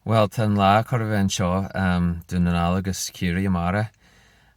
Bhuel, tá an lá chóir a bheith anseo um Dún na nGall agus Ciarraí amárach.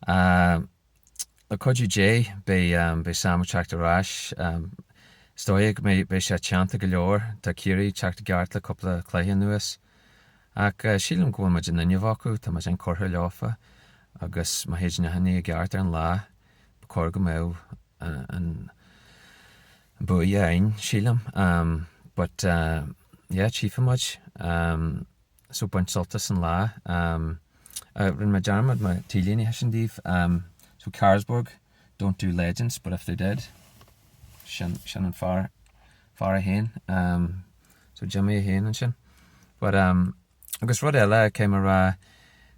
Le cuidiú Dé, beidh um beidh Sam ag teacht ar ais. Um is dóigh go mbeidh beidh sé teannta go leor. Tá Ciarraí ag teacht i gceart le cúpla cluiche anuas. Ach uh sílim go bhfuil muid in innimh acu, tá muid inchurtha leofa agus má théid achan ní i gceart ar an lá, ba chóir go mbeadh an an buaidh againn, sílim, but yeah, tchífidh muid, so bain sult as an lá. Rinne mé dearmad mo t-léine a thaispeáint daoibh, so Carlsberg don't do legends, but if they did, sin, sin an fear, fear é féin, so Jimmy é féin ansin. But um. Agus rud eile, caithfidh mé a rá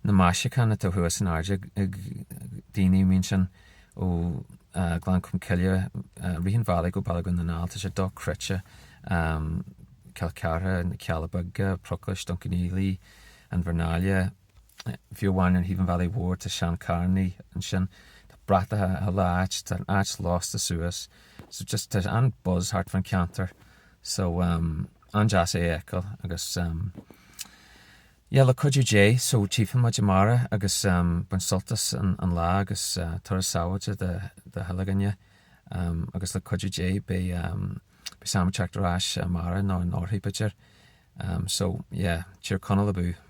na maisiúcháin atá thuas in airde ag daoine, I mean sin ó Ghleann Cholm Cille, rith an bhealaigh go Baile Dhún na nGall, tá sé dochreidte, Cill Chartha, na Cealla Beaga, Broclais, Dún Cionnaola, Inbhear Náile, fiú amháin ar thaobh an bhealaigh mhóir tá seancharrannaí ansin, tá bratacha i chuile áit, tá an áit lasta suas, so just tá an buzz thart fán cheantar, so. an-deas é a fheiceáil agus yeah le cuidiú Dé so tchífidh muid amárach agus bain sult as an lá agus turas sábháilte do chuile dhuine agus le cuidiú Dé beidh Sam ag teacht ar ais amárach nó anóirthear b'fhéidir so yeah Tír Chonaill abú.